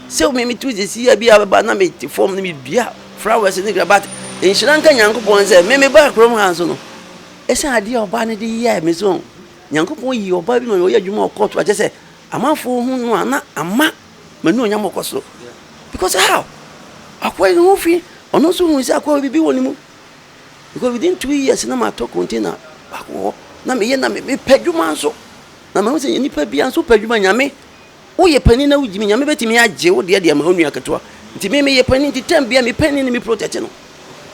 Sɛ me metu sisi yɛ bi a bɛba na mete fam na medua flowers ne kra but nhyira nka Nyankopɔn sɛ me mebaa kurom ha nso no, Esiane ade a ɔbaa no de yɛe me so no, Nyankopɔn yii ɔbaa bi ma ɔyɛ adwuma wɔ court a kyerɛ sɛ amanfo hu no a na ama m'anuonyam akɔ soro. Because how? Akoa yi ne ho fi, ɔno nso hui sɛ akoa bibi wɔ ne mu. Because within two years na matɔ container baako hɔ, na meyɛ na mepɛ adwuma nso. Na mahu sɛ nnipa bi nso pɛ adwuma, Nyame Woyɛ panin na wugyimi, Nyame bɛtumi agye wo deɛ de ama wo nua ketewa. Nti me meyɛ panin nti time biara me panin no me protect no.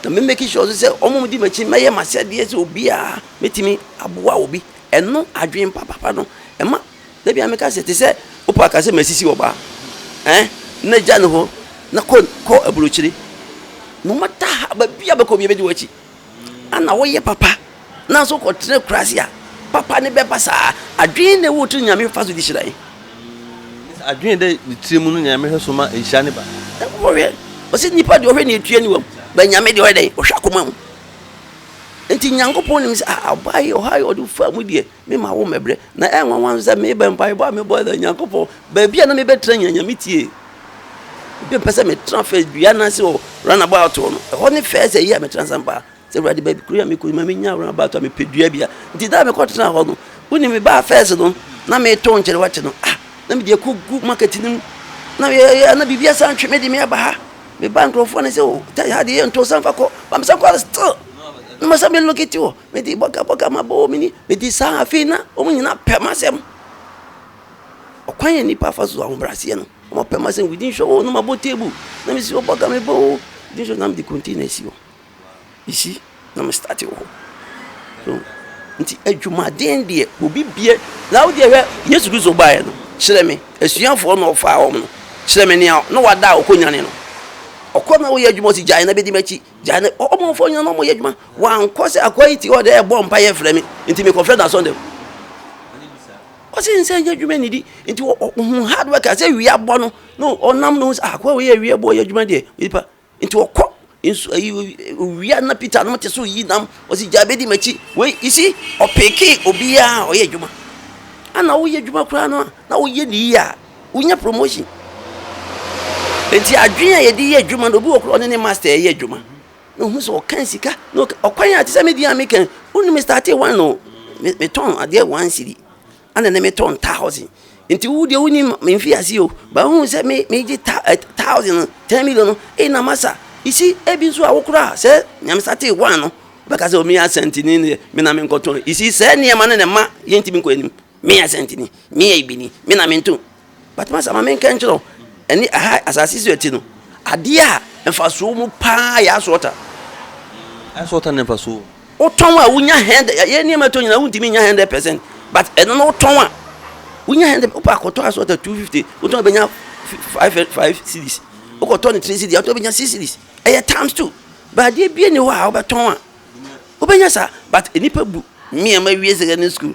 Na me make sure nso sɛ wɔn a wɔdi m'akyi no mɛyɛ m'asɛdeɛ sɛ obiara mɛtumi aboa obi. Ɛno adwene papapa no ɛma da biara meka sɛ te sɛ wopɛ aka sɛ masisi ɔbaa ɛɛ na gya no hɔ na kɔ kɔ aburokyire no matter how baabiara bɛkɔ obiara bɛdi w'akyi. ana woyɛ papa nanso wokɔtena akuraase a papa ne bɛba saa adwene na ɛwɔ tiri nyame fa so de hyira yɛn adwene dɛ ne tiri mu no na nyame hwɛ so ma nhyira ne ba wɔhwɛ ɔsɛ nipa deɛ ɔhwɛ ne ɛtua ne wam ba nyame deɛ ɔyɛ dɛn ɔhwɛ akoma mu nti nyankopɔn nim sɛ ɔbaa yi ɔha yi ɔde fa mu deɛ Me ma wo mɛbrɛ, na ɛyɛ nwanwa nso sɛ meba mpaebɔ a mebɔ sɛ Nyankopɔn, baabi a na mebɛtra nyina nya me tie. Ebi mpɛ sɛ metra fɛ dua no ase wɔ runabout hɔ no, ɛhɔ ne fɛɛ sɛ yie a metra nsɛm paa. Sɛ Awurade baabi kuro yi a mekɔ yi ma menya runabout a mepɛ dua bia. Nti da a mekɔtena hɔ no, wonim mebaa fɛs no na metɔ nkyɛre wakye no. Ah, na mede akɔgu market no mu. Na yɛyɛ na biribi asan twe me de me aba ha. Mebaa nkurɔfoɔ no sɛ o, oh, tɛ ha deɛ yɛntɔ san fa kɔ. Ba mesan kɔ still. Na masa me locate wɔ. mede bɔkabɔka maba wɔn ani, mede saa afei na wɔn nyinaa pɛ m'asɛm. Ɔkwan a nnipa fa so ahobrɛaseɛ no, wɔpɛ m'asɛm within short o na mabɔ table na mesi hɔ bɔka meba o within short na mede container asi hɔ. You see, na me start wɔ hɔ. So nti adwumaden deɛ obi bie na wodeɛ hwɛ Yesu Kristo baeɛ no kyerɛ me asuafoɔ na ɔfaa wɔn no kyerɛ me nea na wada a ɔkɔ nyane no ɔkɔ na woyɛ adwuma ɔsi gyae na bɛdi m'akyi Gya ne ɔmanfoɔ nyina na wɔyɛ adwuma. Wankɔ sɛ akoa yi te hɔ dɛ bɔ mpa yɛ frɛ me, nti me kɔ frɛ n'asɔn dɛm. Ɔse nsɛ nyɛ adwuma nidi, nti ɔhu hard work a sɛ wia bɔ no, na ɔnam no sɛ akoa wei yɛ wia bɔ yɛ adwuma deɛ, nipa. Nti ɔkɔ nsu ayi wia na Peter nom te so yi nam, ɔse gya bɛdi m'akyi. Wei, you see, ɔpeke obiara a ɔyɛ adwuma. Ana woyɛ adwuma koraa no a, na woyɛ ne yie a. Wonya promotion. Enti adwene a yɛde yɛ adwuma no, obi wɔ koro ɔne ne master ɛyɛ adwuma. Na ohun sɛ ɔkan sika. Na ɔkwan a te sɛ me di a me kan. Wonu me starte wɔn no. Me me tɔn adeɛ wɔn siri. Ana ne me tɔn thousand. Enti wo deɛ woni me nfi ase o. Ba ohun sɛ me me gye ta ɛ thousand no, ten million no. Ei na masa. Isi ebi nso a wo kora sɛ nea me starte wɔn no. Bɛka sɛ o me yɛ asantini ne me na me nkɔ tɔn. Isi sɛ nneɛma no na ɛma yɛntumi nkɔ anim. Me yɛ Asanteni, me yɛ Ibini, me na mento. But masa ma menka nkyerɛ wo, ɛne aha asase so ɛte no, adeɛ a mfasoɔ wɔ mu paa yɛ ice water. Ice water ne mfasoɔ wɔ mu. Wotɔn a wonya hundred, yɛ nneɛma tɔ nyinaa wontumi nya hundred percent, but ɛno no wotɔn a wonya hundred, wopɛ akɔtɔ ice water two fifty, wotɔn bɛnya five five series, wokɔtɔ ne three series, wotɔn bɛnya six series, ɛyɛ times two, but adeɛ bie ni hɔ a wobɛtɔn a wobɛnya saa, but nnipa bu nneɛma wie secondary school.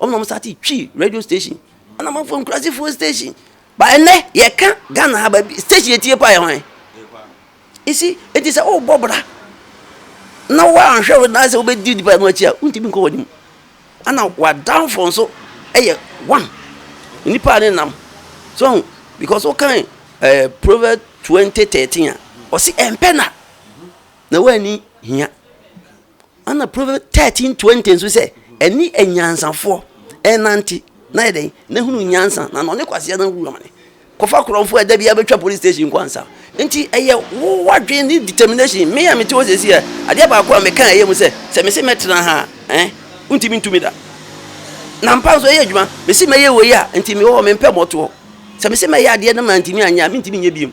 Wɔn na wɔn sate Twi radio station. Ɛna wɔn afɔ nkurasefoɔ station. Ba ɛnɛ yɛka Ghana ha ba station etie pa yɛ hwan? Esi eti sɛ ɔrebɔ bra na wɔanhwɛ wo na sɛ wobɛdi nipa no akyi a wontumi nkɔ wɔn anim. Ɛna wadanfo nso ɛyɛ one nipa ne nam so because wokan ɛɛ eh, Proverbs twenty thirteen a ɔsi ɛmpɛ na na wɔani hia. Ɛna Proverbs thirteen twenty nso sɛ ɛne anyansafoɔ ɛnante na yɛ dɛn na hunu nyansa na na ɔne kwaseɛ no wura mane kɔfa korɔmfoɔ a ɛda bi abɛtwa police station kɔ ansa nti ɛyɛ wo wadwene ne determination me a mete hɔ sɛsi a adeɛ baako a meka ɛyɛ mu sɛ sɛ mese mɛtena ha ɛn eh, wontumi ntumi da na mpa nso ɛyɛ adwuma mese mɛyɛ wei a nti mewɔ hɔ mempɛ mɔtoɔ sɛ mese mɛyɛ adeɛ no ma ntumi anyɛ a mentumi nyɛ biom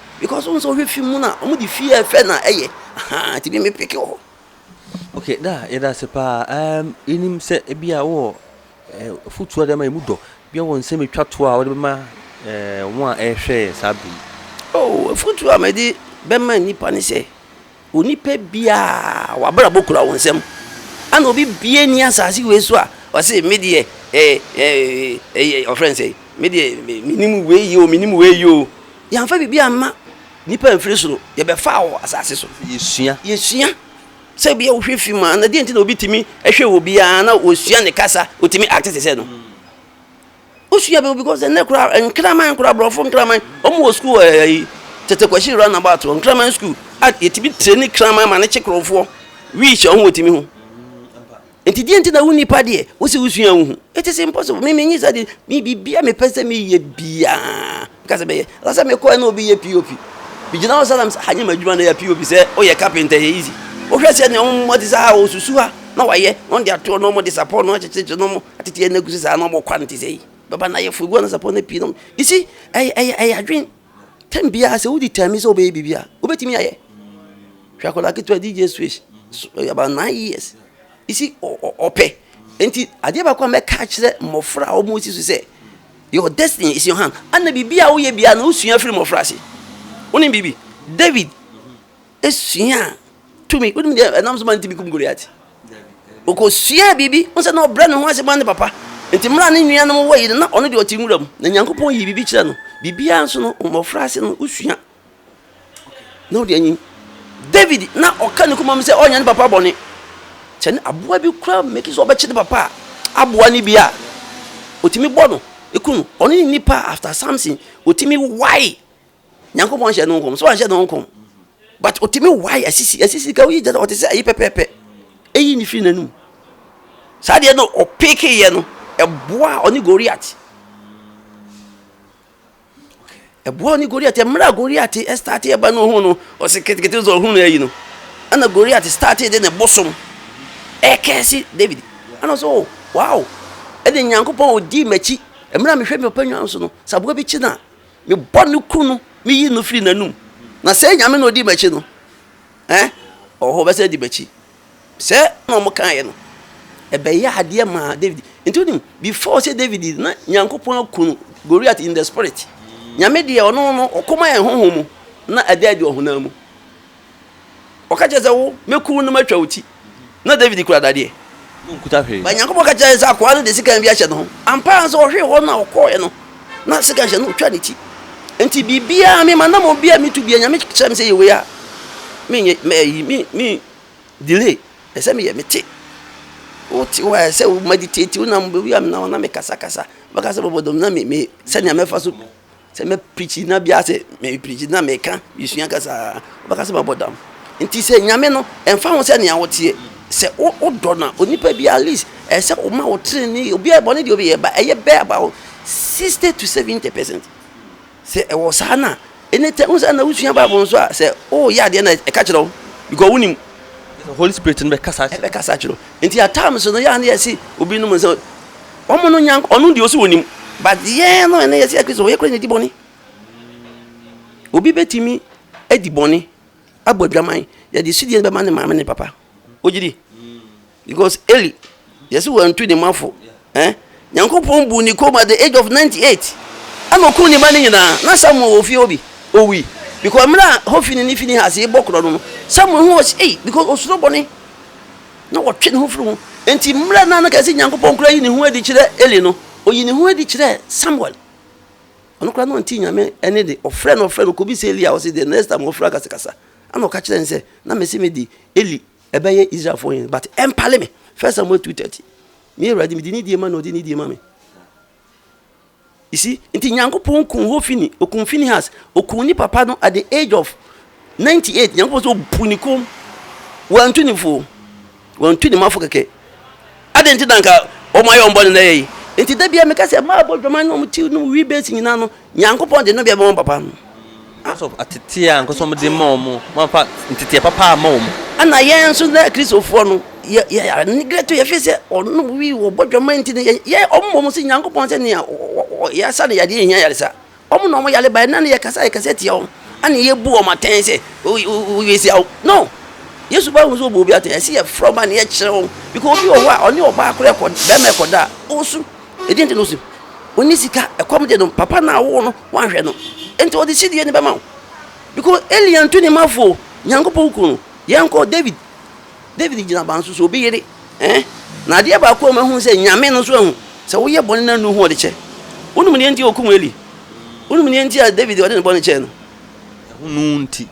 because wọn sɛ ɔhwɛ fi mu na wɔn de fi yɛ fɛ na ɛyɛ ahaa ti bi mi peke wɔ hɔ. okay da yɛda ase paa um, yɛnim sɛ ebi a wɔ eh, afotuo a de ma yɛ mu dɔ bia wɔ nsɛm ɛtwa toɔ a wɔde bɛma eh, wɔn a ɛrehwɛ yɛ saa bere yi oh afotuo a mɛde bɛma nnipa ne sɛ Onipa biaa w'abrabɔ kura wo nsam. Ana obi biaa nni asase wei so a ɔse me deɛ ɛɛ ɔfrɛ no sɛn me deɛ menim wei yɛ o menim wei yɛ o. Yɛanfa biribi amma nnipa amfiri soro, yɛbɛfaa wɔ asase so. Yɛsua. Yɛsua. Sɛ bia wohwɛ fim a, na deɛ nti na obi tumi hwɛ obi a na ɔsua ne kasa, ɔtumi acte te sɛ no? Wosua bɛ because ɛnɛ koraa nkraman koraa borɔfo nkraman wɔn wɔ sukuu wɔ ɛyi tete kwasi run about wɔ nkraman sukuu a yɛtumi tireni kraman ma ne kye korɔfoɔ wii hyɛ wɔn wɔ timi ho nti deɛ nti na wo nipa deɛ wosi wosua wo ho it is impossible mi mi nyi sɛ de mi bibia mi pɛ sɛ mi yɛ biaa kasa bɛyɛ lasa mi kɔɛ na obi yɛ pop mi gyina hɔ sɛ ha nyɛ ma adwuma na yɛ pop sɛ oyɛ carpenter yɛ easy wohwɛ sɛ nea wɔn mo ti sɛ ha osusu ha na wayɛ na wɔn de ato na wɔn de sapɔ na wɔn akyekyere na wɔn Atete yɛ n'agu sɛ saa na ɔbɔ kwa no te sɛ yi bɛba na ayɛ fo egu anasapɔ no pii nom you see ɛyɛ ɛyɛ ɛyɛ adwen tɛm biara sɛ wodi tɛm sɛ wobɛyɛ biribi a wobɛtumi ayɛ hwɛ akwadaa ketewa dj swish about nine years you see ɔpɛ nti adeɛ baako a mɛka akyerɛ mmɔfra a wɔn si so sɛ your destiny is your hand ana biribi a woyɛ biara no wosua firi mmɔfra ase wonim biribi david suaa tumi. Wonim deɛ ɛnam so ma ntumi kum Goliat? Ɔkɔsuaa biribi. Wo sɛ na ɔbrɛ ne ho ase ma ne papa. Nti mmerɛ a ne nuanom wɔ yi no, na ɔno deɛ ɔte nwura mu. Na Nyankopɔn yii biribi kyerɛ no. Biribiara nso no, mmɔfra ase no, wosua. Na wode anyim. David na ɔka ne komam sɛ ɔnyɛ ne papa bɔne. Kyɛ ne aboa bi kura meki sɛ ɔbɛkye ne papa a, aboa no bi a, ɔtumi bɔ no, ɛku no. Ɔne ne nipa after Samson, ɔtumi wae. nyankopɔn hyɛ no nkɔm so anhyɛ no nkɔm but ɔtumi wae asisi asisi ka woyi gyɛ sɛ ɔte sɛ ayi pɛpɛɛpɛ ɛyi ne firi n'anum saa deɛ no ɔpekeyɛ no ɛboa ɔne goriat ɛboa ɔne goriat mmerɛ a goriat ɛstate ɛba no ɔhu no ɔse ketekete sɛ ɔhu no ayi no ɛna goriat starte de ne bosom ɛkɛse david ɛna ɔsɛ o wow ɛne nyankopɔn ɔdii m'akyi mmerɛ a mehwɛ me papa nwa so no sɛ aboa bi kyi no a Mebɔ no kuru no, meyi no firi n'anom. Na sɛ Nyame na ɔdi m'akyi no ɛ? Ɔhɔ ɔbɛsan adi m'akyi. Sɛ na ɔmo kaeɛ no, ɛbɛyɛ adeɛ maa David. Nti wonim, before sɛ David na Nyankopɔn aku no, Goliath in the spirit. Nyame deɛ ɔno no ɔko ma yɛn honhom mu, na ɛda adi ɔhonam mu. Ɔka kyerɛ sɛ, Wo, mɛku wo na matwa wo ti. Ná Dawid kura dadeɛ. Bae Nyankopɔn ka kyerɛɛ sɛ akoa no de sekan bi ahyɛ ne ho. Ampa ara nso, ɔhwee hɔ no na ɔkɔeɛ no, na sekan hyɛ no, ɔtwaa ne ti. Enti biribiara, me manammɔn biara a metu biara, Nyame kyerɛ me sɛ yɛ wei a, menyɛ, mɛ, ayi, me, me delay. Ɛsɛ sɛ meyɛ, mete. Wote hɔ a, ɛsɛ sɛ wo meditate, wonam, baabi a menam, na mekasakasa, mɛkasa bɔbɔdɔm, na me, me, sɛnea mɛfa so Sɛ mɛ preach na bia sɛ mɛ preach na mɛ ka mɛ sua kasa ɔbɛ kasa mɛ bɔ dam nti sɛ nyame no ɛnfa ho sɛ nea ɔteɛ sɛ o o dɔ na onipa bi at least ɛsɛ o ma o tiri ni obi a bɔ ne deɛ obi yɛ ba ɛyɛ bɛ about sixty to seventy percent sɛ ɛwɔ saa na ɛnɛ tɛ n sɛ na wosua bible nso a sɛ o yɛ adeɛ na ɛka kyerɛ wo because wonim holy spirit no bɛ kasa kyerɛ ɛbɛ kasa kyerɛ nti at times no yɛ a ne yɛ se obi nom nsa Wɔn no nyank ɔno deɛ ɔsi onim but yɛn no ɛnɛ yɛsi akristo yɛ kura na di bɔne obi betumi adi bɔne abɔ adwaman yɛde sidie bɛma ne maame ne papa ogye di because eli yɛsi wɔn ntu ne mafo ɛn nyankopɔn bu ne kɔn at the age of ninety eight ɛna okun ne ba ne nyinaa na samuel wɔ fie obi owi because mmerɛ a hofini ne fini ha ase bɔ korɔ no no samuel ho ɔsi ei because osoro bɔne. Na ɔtwe ne ho firi ho. Enti mmerɛ no a na kɛse Nyankopɔn koraa yi ne ho adi kyerɛ Eli no, ɔyii ne ho adi kyerɛɛ Samuel. Ɔno koraa na ɔntee Nyame ɛnne de, ɔfrɛɛ no ɔfrɛɛ no kɔbisaa Eli a ɔse the next time ɔfrɛ a kasa kasa. Ɛna ɔka kyerɛɛ no sɛ, na mese mede Eli ɛbɛyɛ Israelfoɔ hene but ɛmpale me, First Samuel two thirty, Me Awurade mede nidie ma na ɔde nidie ma me. You see, nti Nyankopɔn kuu Hofini, okuu Finehas, okuu ne papa no at the age of 98, Nyankopɔn sɛ obu ne kom, wantu ne fo, wantu ne mafo kɛkɛ. Adɛn nti na nka wɔn ayɛ wɔn bɔne na ɛyɛ yi? Nti da bia meka sɛ mmaa bɔ dwaman na wɔn ti no wi base nyinaa no, Nyankopɔn de no bia bɛma papa no. As of ateteɛ a ankasa wɔde ma wɔn, wɔamfa nteteɛ papa amma wɔn. Ɛna yɛn nso nnɛ Kristofoɔ no, yɛ yɛ yɛaneglɛto yɛn firi sɛ wɔn wi wɔbɔ dwaman nti no yɛ yɛ wɔn mmom sɛ Nyankopɔn sɛ nea yɛasa no yadeɛ nhia ayaresa. Wɔn na wɔyare ba ɛnna no yɛkasa yɛkasa tia wɔn ɛna yɛbu wɔn atɛn sɛ wɔasia wo. No! Yesu ba ahu sɛ wɔbu obi atɛn ɛsɛ yɛfrɛ wɔn ba na yɛkyerɛ wɔn because obi wɔ hɔ a ɔne ɔbaa koraa ɛkɔ bɛrima ɛkɔda a ɔresu. Ɛdeɛn nti na ɔsi ɔnni sika? Ɛkɔm de no, papa no a ɔwoo no wanhwɛ no, enti ɔde sidie no bɛma wo. Because Eli antu ne mma fo, Nyankopɔn kuu no. Yɛnkɔ David. David gyina ban so sɛ obi yere. Eh? Na adeɛ baako a mahu sɛ Nyame no nso ahu, sɛ woyɛ bɔne na nnu ho a ɔde kyɛ. Wonim deɛ nti a ɔkum Eli? Wonim deɛ nti a David ɔde ne bɔne kyɛɛ no? Ɛho no nti.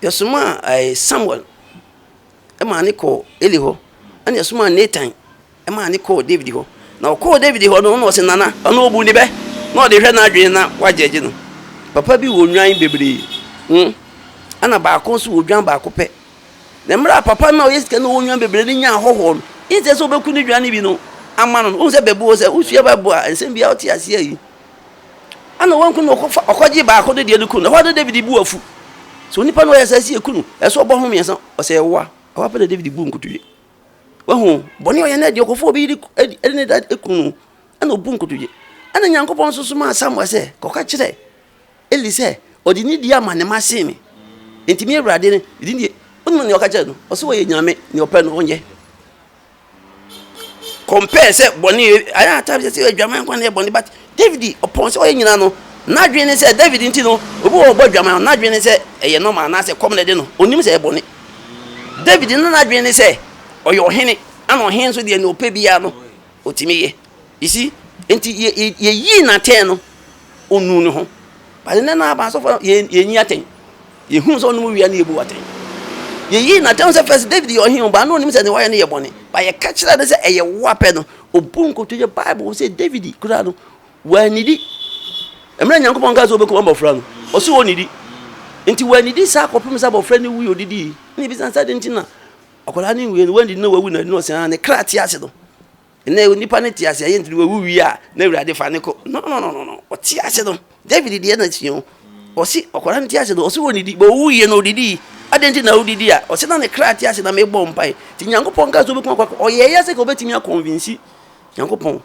Yɛsomaa Samuel. maa ne kɔɔ Eli hɔ, ɛnna ɛsomaa Natan maa ne kɔɔ Dawid hɔ. Na ɔkɔɔ Dawid hɔ no, ɔno ɔse, Nana, ɔno obu ne bɛ, na ɔde hwɛ n'adwene na wagyɛgye no. Papa bi wɔ nnwan bebree, hmm, ɛnna baako nso wɔ dwan baako pɛ. Na mmerɛ a papa no a ɔyɛ sika na ɔwɔ nnwan bebree no nyaa ahɔhoɔ no, ɛnsɛ sɛ ɔbɛku ne dwan no bi no ama no no. Wohu sɛ bɛbu hɔ sɛ, wosua Bible a, nsɛm biara wote aseɛ yi, Ana wanku no, ɔkɔfa ɔkɔgye baako de deɛ no ku no. Ɛhɔ ara na David bu afu. Sɛ onipa no ɔyɛ saa si eku no, ɛsɛ ɔbɔ ho mmiɛnsa, ɔsɛ ɛwoa. Ɛhɔ ara pɛ na David bu nkotodwe. Wahu bɔne ɔyɛ no deɛ ɔkɔfa obi de de ne da eku no, ɛna ɔbu nkotodwe. Ɛna Nyankopɔn nso somaa Samuel sɛ, kɔka kyerɛ Eli sɛ, ɔde ne di ama ne mma sen me. Enti me Awurade ne, ne deɛ, wonim nea ɔka kyerɛ no? Ɔsɛ ɔyɛ Nyame, nea ɔpɛ no ɔnyɛ. compare sɛ bɔne yɛ ayɛ atam sɛ sɛ adwaman kwan yɛ bɔne but david ɔpɔn sɛ ɔyɛ nyinaa no n'adwene ne sɛ david nti no obi wɔ ɔbɔ adwaman no n'adwene ne sɛ ɛyɛ normal anaasɛ kɔm na ɛde no onim sɛ ɛyɛ bɔne david no n'adwene ne sɛ ɔyɛ ɔhene ana ɔhene nso deɛ ne ɔpɛ biara no ɔtumi yɛ isi nti yɛyii n'atɛn no ɔnnu ne ho. But nnɛ no aba asɔfo yɛn yɛnyi atɛn. Yɛhunu sɛ ɔnom wia ne yɛbu atɛn. Yɛyi n'atɛn sɛ fɛs David yɛ ɔhene ba no onim sɛ ne wayɛ no yɛ bɔne. Ba yɛka kyerɛ no sɛ ɛyɛ wo apɛ no. Obu nkoto yɛ Bible sɛ David koraa no wannidi. Mmerɛ Nyankopɔn kaa sɛ ɔbɛkum abɔfra no, ɔse ɔnnidi. Nti wannidi saa kɔpem sɛ abɔfra no wui ɔdidii. Ne bisa sɛ adɛn nti na akwadaa no nwuiɛ no wannidi na wawu na ɛde no ɔsɛn a ne kra te ase no. Nnɛ onipa no te ase a, ɛyɛ nti na wawu wie a na Awurade fa no kɔ. No, no, no, no, no. Ɔte ase no, David deɛ na sua o. Ɔse ɔkwara no te ase no, ɔse wɔnnidi, bɛ ɔwu yie no ɔdidii. Adɛn nti na ɔdidi a? Ɔse na ne kra te ase na mebɔ mpae. Nti Nyankopɔn kaa sɛ ɔbɛtumi akɔ akɔ. Ɔyɛɛ yɛ sɛ ka ɔbɛtumi akɔnvinsi Nyankopɔn.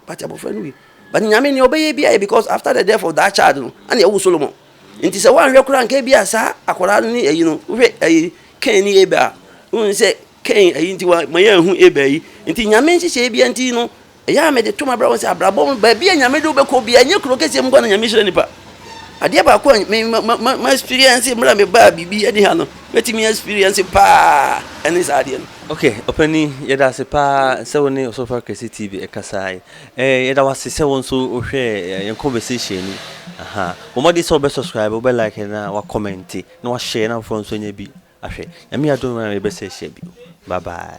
But abɔfra no wui. But Nyame nea ɔbɛyɛ biara yɛ because after the death of that child no, ɛna ɛwo Solomon. Nti sɛ woanhwɛ koraa nka bi a saa akwaraa no ne ayi no, wohwɛ ayi Cain ne Abel a, wohu sɛ Kain ayi nti wɔamma yɛanhu Abel ayi. Enti Nyame nhyehyɛeɛ biara nti no, ɛyɛ a mede to mabrabɔ sɛ abrabɔ mu baabi a Nyame de wo bɛkɔ biara, ɛnyɛ kuro kɛseɛ mu nko ara na Nyame hyira nnipa. Adeɛ baako a me ma ma experience mmerɛ a mebaa biribi ɛde ha no, mɛtumi experience paa ɛne saa adeɛ no. Ok ɔpanin yɛda ase paa sɛ wo ne Ɔsɔfo Akɛse TV ɛkasaa yi. Ɛɛ yɛda wo ase sɛ wo nso wo hwɛɛ yɛn conversation no. Ahaa. Bɔ mmɔden sɛ wo bɛ subscribe, wo bɛ like na wa comment na wa share na afoforɔ nso anya bi. Ahwɛ. Nyame adom a yɛbɛsa ahyia bio. Bye bye.